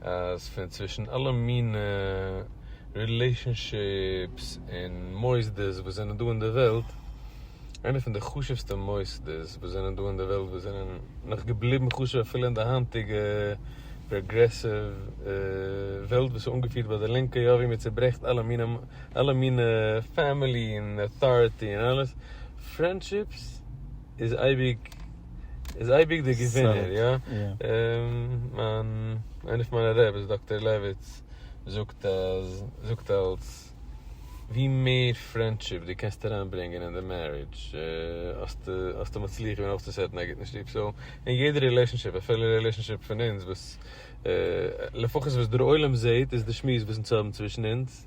אז פון צווישן אלע מינע רילעישאנשיפס און מוסדות וואס זענען דא אין די וועלט, איינע פון די חשוב'סטע מוסדות וואס זענען דא אין די וועלט, וואס זענען נאך געבליבן חשוב אפילו אין די היינטיגע פראגרעסיוו וועלט וואס איז אנגעפירט ביי די לינקע, יא ווי מען צוברעכט אלע מינע אלע מינע פעמילי און אויטאריטי און אלעס, פרענדשיפס איז אייביג. איז אייביג דער געווינער, יא? מיין, איינער פון מיינע רעבעס, דאקטער לעוויץ, זאגט אז, זאגט אלץ, ווי מער פרענדשיפ דו קענסט אריינברענגען אין די מערידזש, האסטו, האסטו מצליח געווען אויפצוסעטן א גוטן שטוב. סאו, אין יעדע רילעישאנשיפ, אפילו די רילעישאנשיפ פון אונז, וואס, לפחות וואס דער עולם זעט, איז די שמועס וואס אונז האבן צווישן אונז,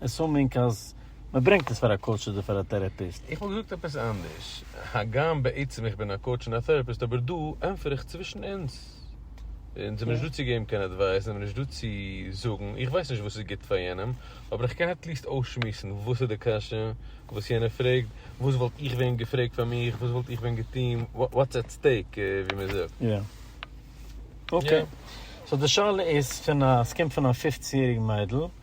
עסומינג אז מען ברענגט עס פאר א קאוטש אדער פאר א טערעפיסט. איך וואלט געזאגט עפעס אנדערש, הגם בעצם איך בין א קאוטש און א טערעפיסט, אבער דא ענטפער איך צווישן אונז. אונז זעמיר נישט דא צו געבן קיין עדווייס, זעמיר נישט דא צו זאגן, איך ווייס נישט וואס איז גוט פאר יענעם, אבער איך קען עטליעסט אויסשמועסן וואס איז די קשיא וואס יענער פרעגט, וואס וואלט איך ווען געפרעגט פאר מיך, וואס וואלט איך ווען געטון, וואטס עט סטעיק ווי מען זאגט. יא. אקעי. סאו די שאלה איז פון א, ס'קומט פון א פופצן יעריג מיידל.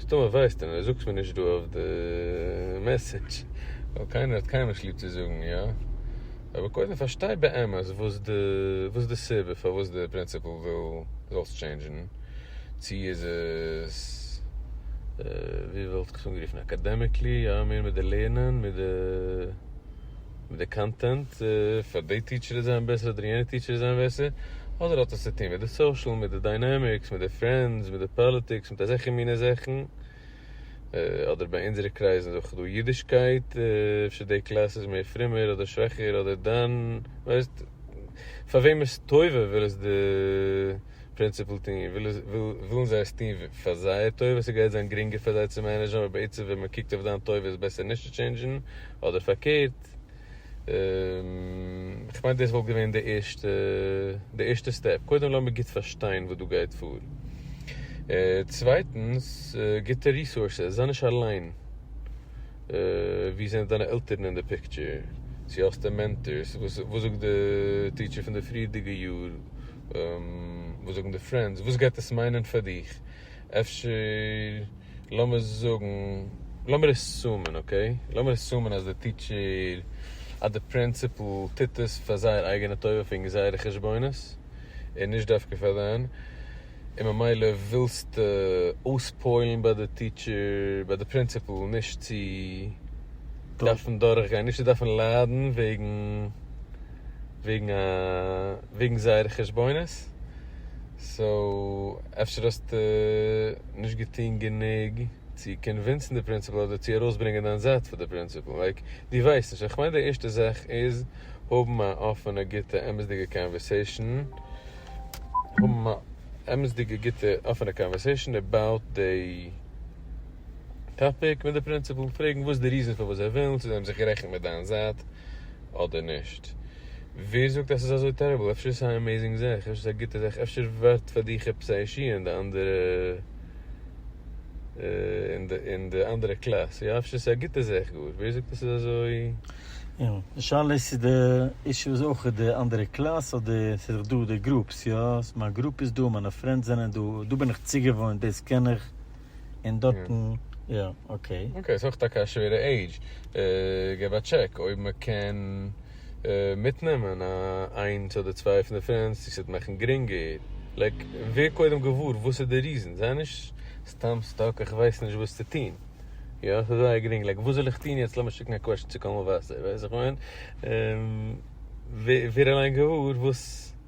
אז טאמער ווייסט איינער זאגטס מיר נישט דא אויף די מעסעדזש ווייל קיינער האט קיינמאל נישט ליב צו זאגן יא, אבער קודם פארשטיי באמת וואס די וואס איז די סיבה פארוואס די פרינסיפעל וויל זאלסט טשעינדזשן, צו איז עס ווי וואלט איך עס אנגערופן אקאדעמיקלי יא מער מיט די לערנען מיט די. מיט די קאנטענט, פאר די טיטשער איז זיין בעסער אדער יענע טיטשער איז זיין בעסער, אדער האט עס צו טון מיט די סאושעל, מיט די דיינעמיקס, מיט די פרענדס, מיט די פאליטיקס, מיט אזעלכע מינע זאכן, אדער ביי אונזערע קרייזן איז אויך דא אידישקייט, אפשר די קלאס איז מער פרומער אדער שוואכער אדער דאן ווייסט פאר וועמעס טובה וויל עס די. פרינציפל טוהן ווילן זיי עס טוהן פאר זייער טובה ס'גייט זיין גרינגער פאר זיי צו מענעדזשן אבער בעצם ווען מען קוקט אויף דיין טובה איז בעסער נישט צו טשענדזשן אדער פארקערט כ'מיין דאס וואלט געווען די ערשטע די ערשטע סטעפ קודם לאמיר גוט פארשטיין וואס דא גייט פאר צווייטנס גוטע ריסארסעס זיי נישט אליין ווי זענען דיינע עלטערן אין די פיקטשער צו האסטו מענטארס וואס זאגט די טיטשער פון די פריערדיגע יאר וואס זאגן די פרענדס? וואס גייט עס מיינען פאר דיך? אפשר לאמיר זאגן, לאמיר עסומען, אקעי, לאמיר עסומען אז די טיטשער, אז די פרינציפל טוט עס פאר זייער אייגענע טובה פון זייערע חשבונות, און נישט דווקא פאר דיין, און ממילא ווילסטו אויספוילן ביי די טיטשער, ביי די פרינציפל, נישט צו דארפן דורכגיין, נישט צו דארפן ליידן וועגן. וועגן זייערע חשבונות, סאו אפשר האסטו נישט געטון גענוג צו קאנווינסן די פרינסיפעל אדער צו ארויסברענגען דיין זייט פאר די פרינסיפעל, לייק דו ווייסט נישט, איך מיין די ערשטע זאך איז האבן א אפענע גוטע אמת'דיגע קאנווערסעישן, האבן א אמת'דיגע גוטע אפענע קאנווערסעישן עבאוט די טאפיק מיט די פרינסיפעל, פרעגן וואס די ריזען פארוואס זיי ווילן, צו זיי האבן זיך גערעכנט מיט דיין זייט. אדער נישט? ווער זאגט אז ס'איז אזוי טעריבל? אפשר איז עס אן עמעיזינג זאך, אפשר איז עס א גוטע זאך, אפשר ווערט פאר די כיפות האישי און די אנדערע און די אנדערע קלאס, יא אפשר איז עס א גוטע זאך גאר, ווער זאגט אז ס'איז אזוי? יא, די שאלה איז צו די אישו איז אויך די אנדערע קלאס אדער ס'איז דאך דא די גרופס, יא מיין גרופ איז דא, מיינע פרענדס זענען דא, דא בין איך צוגעוואוינט, דאס קען איך. און דארטן יא אקעי. אקעי סאיז אויך טאקע א שווערע עידזש, געב א טשעק אויב מקען מיטנעמען א איינס אדער צוויי פון די פרענדס צו סוועט מאכן גרינגער, לייק ווער קודם געוואר וואס איז די ריזן, זיי נישט סתם סטאק איך ווייס נישט וואס צו טון, יא סאיז זייער גרינג לייק וואס זאל איך טון יעצט לאמיר שיקן א קוועשן צו קאמאוואסער ווייסט וואס איך מיין, ווער אליין געוואר וואס.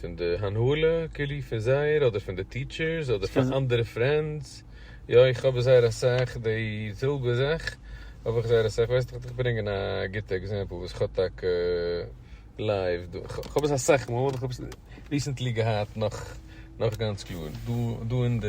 פון די הנהלה כאילו פון זייער אדער פון די טיטשערס אדער פון אנדערע פרענדס, יא איך האב זייער אסאך די זעלבע זאך האב איך זייער אסאך, ווייסט איך דיך ברענגען א גוטע עקזעמפל וואס איך האב טאקע לייוו דא, איך האב עס אסאך מאל, איך האב עס ריסענטלי געהאט נאך גאנץ קלאר דא אין די.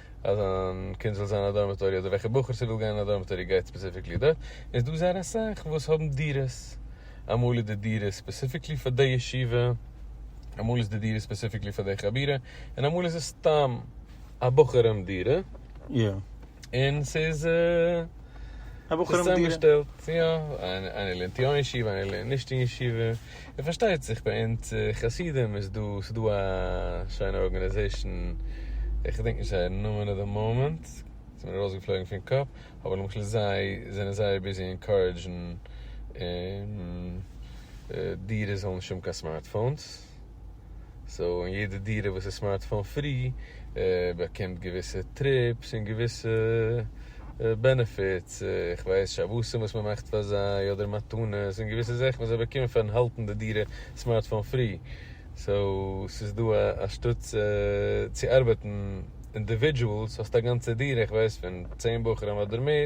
אז זיין קינד זאל זיין א דארמעטארי אדער וועלכע בחור ס'וויל גיין אין א דארמעטארי גייט ספעסיפיקלי דארט, און ס'דא זייער אסאך וואס האבן דירות, אמאל איז די דירה ספעסיפיקלי פאר די ישיבה, אמאל איז די דירה ספעסיפיקלי פאר די חבורה, און אמאל איז עס סתם א בחורים דירה, און ס'איז צוזאמגעשטעלט, יא, איינער לערנט יא אין ישיבה איינער לערנט נישט אין ישיבה. און פארשטייט זיך ביי אונז חסידים איז דא, ס'איז דא א שיינע ארגאניזעישן, איך געדענק נישט זייער נאמען אט די מאמענט, ס'איז מיר ארויסגעפלויגן פון קאפ, אבער למשל זיי זענען זייער ביזי אינקארעדזשן דירות זאלן נישט האבן קיין סמארטפאונס, סאו אין יעדע דירה וואס איז סמארטפאון פרי באקומט געוויסע טריפס און געוויסע בענעפיטס, איך ווייס שבתים וואס מען מאכט פאר זיי אדער מתנות און געוויסע זאכן וואס זיי באקומען פארן האלטן די דירה סמארטפאון פרי, סאו ס'איז דא א א שטאטס צו ארבעטן אינדיווידזשועלס, האסט א גאנצע דירה איך ווייס פון צען בחורים אדער מער.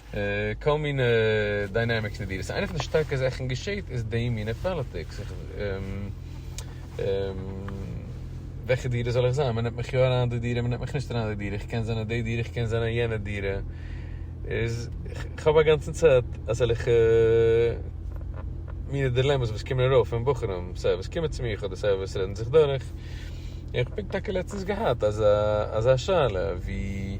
כל מיני דיינעמיקס אין די דיעל. ס'איז איינע פון די שטארקע זאכן געשעהט איז די מינע פאליטיקס. איך וועלכע דירה זאל איך זיין? מ'נעמט מיך יא אריין אין די דירה, מ'נעמט מיך נישט אריין אין די דירה, איך קען זיין אין די דירה, איך קען זיין אין יענע דירה. איז כ'האב א גאנצן צייט אזעלכע מינע דילעמעס וואס קומען ארויף פון בחורים, סיי וואס קומען צו מיך אדער סיי וואס רעדן זיך דורך. און כ'האב פונקט טאקע לעצטנס געהאט אזא שאלה ווי.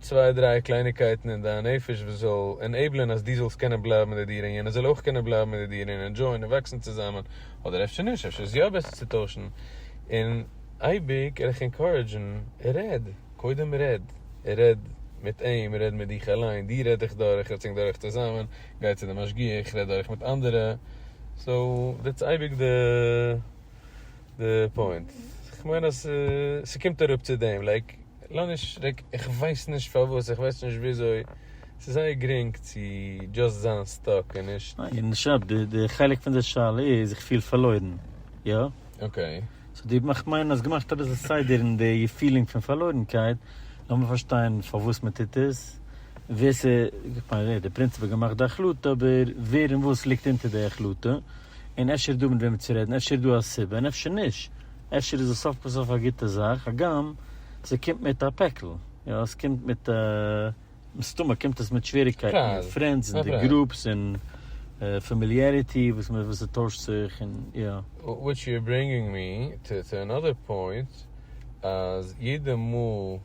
צוויי דריי קלייניגקייטן אין דיין נפש וואס זאל ענעיבלען אז דו זאלסט קענען בלייבן אין די דירה און יענער זאל אויך קענען בלייבן אין די דירה און ענדזשויען און וואקסן צוזאמען, אדער אפשר נישט, אפשר איז יא בעסער צו טוישן, און אייביג גיי דיך ענקארעדזשן, רעד, קודם רעד, רעד מיט אים, רעד מיט דיך אליין, דו רעד דיך דורך, רעדס ענק דורך צוזאמען, גיי צו די משגיח, רעד דורך מיט אנדערע, סאו דעטס אייביג די. די פוינט, כ'מיין אז ס'קומט אראפ צו דעם, לייק, לאניש, לייק, איך ווייס נישט פארוואס, איך ווייס נישט וויאזוי, ס'איז זייער גרינג צו דזשאסט זיין סטאק און נישט. און נישט נאר דאס, די חלק פון די שאלה איז, איך פיל פארלוירן, יא? אקעי. סאו דו, איך מיין, האסט געמאכט אביסל סדר אין די פילינג פון פארלוירנקייט, לאמיר פארשטיין פארוואס מען טוט עס, ווער ס'איז, איך מיין, די פרינציפ האט געמאכט די החלטה, אבער ווער און וואס ליגט אונטער די החלטה. און אפשר איז דא מיט וועם צו רעדן, אפשר איז דא א סיבה און אפשר נישט, אפשר איז עס סוף כל סוף א גוטע זאך, הגם ס'קומט מיט א פעקל, יא ס'קומט מיט א, מסתמא קומט עס מיט שוועריגקייטן מיט פרענדס און די גרופס און פאמיליעריטי וואס מען וואס ס'טוישט זיך און יא. וויטש יו אר ברענגינג מי טו טו אנאדער פוינט, אז יעדע מאל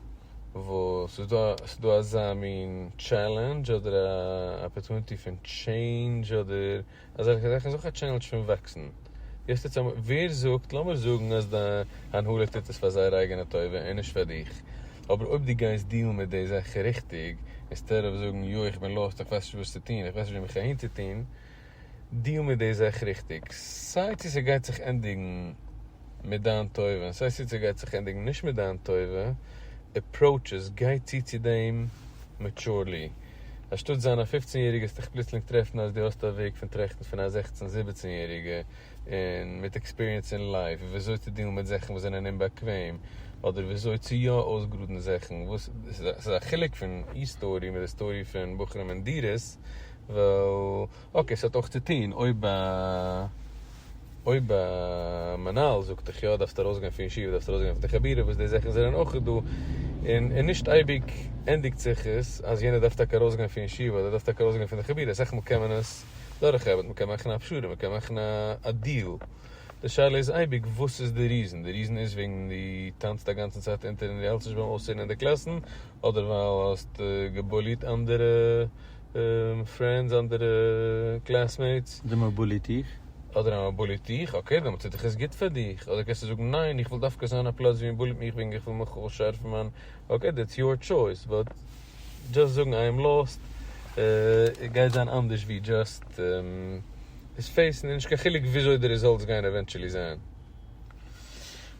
וואס ס'איז דא ס'איז דא אזא מין טשעלענדזש אדער א אפערטוניטי פון טשעינדזש אדער. אזעלכע זאכן איז אויך א טשעלענדזש פון וואקסן. יעצט טוט זיי, ווער זאגט, לאמיר זאגן אז די הנהלה טוט עס פאר זייער אייגענע טובה און נישט פאר דיך, אבער אויב דו גייסט דילן מיט די זאך ריכטיג, אינסטעד אוו זאגן יא איך בין לאסט, איך ווייס נישט וואס צו טון, איך ווייס נישט ווי מיך אהינצוטון, דיל מיט די זאך ריכטיג. סיי צו ס'גייט זיך ענדיגן מיט דיין טובה און סיי צו ס'גייט זיך ענדיגן נישט מיט דיין טובה, עפראוטש עס, גיי צו צו דעם מעטשורלי. אנשטאט זיין א פופצן יעריגע האסט דיך פלוצלינג טרעפן אז דו האסט א וועג פון טראכטן פון א זעכצן זיבעצן יעריגע און מיט עקספיריענס אין לייף וויאזוי צו דילן מיט זאכן וואס זענען אומבאקוועם אדער וויאזוי צו יא אויסגראדן זאכן וואס ס'איז א חילוק פון איר סטארי מיט די סטארי פון בחורים און דירות ווייל אקעי, ס'האט אויך צוטוהן אויב אויב מנהל זאגט דיך יא דארפסטו ארויסגיין פון ישיבה דארפסטו ארויסגיין פון די חבירה וואס די זאכן זענען אויך דא און און נישט אייביג ענדיגט זיך עס אז יענער דארף טאקע ארויסגיין פון ישיבה אדער דארף טאקע ארויסגיין פון די חבירה אסאך מאל קען מען עס דורכרעבען מ'קען מאכן א פשרה מ'קען מאכן א דיעל די שאלה איז אייביג וואס איז די ריזען די ריזען איז וועגן די טאנצט א גאנצן צייט אונטער און די האלסט נישט ביים אויסצוערן אין די קלאסן אדער ווייל האסט געבוליט אנדערע. פרענדס אדער קלעסמעיטס. די מבולי טיך. אדער א מבולי טיך, אקעי דעמאלטס טוט עס גוט פאר דיך, אדער קענסטו זאגן ניין איך וויל דווקא זיין א פלאץ ווי מבול'ט מיך וועגן איך וויל מיך אויס שארפן מיין, אקעי דעטס יאר טשויס, באט דזשאסט זאגן איי עם לאסט גייט זיין אנדערש ווי דזשאסט עס פעיסן, און נישט קיין חילוק וויאזוי די רעזאלטס גייען עווענטשעלי זיין.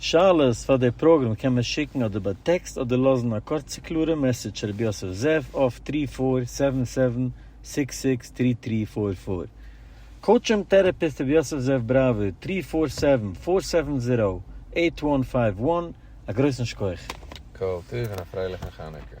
שאלות פאר די פראגראם קען מען שיקן אדער ביי טעקסט אדער לאזן א קורצע קלארע מעסעדזש צו ר' יוסף זאב אויף טרי פאר סעווען סעווען סיקס סיקס טרי טרי פאר פאר. קאוטש און טערעפיסט ר' יוסף זאב בראווער טרי פאר סעווען פאר סעווען זיראו עיט וואן פייוו וואן א גרויסן שכח. כל טוב און א פרייליכן חנוכה.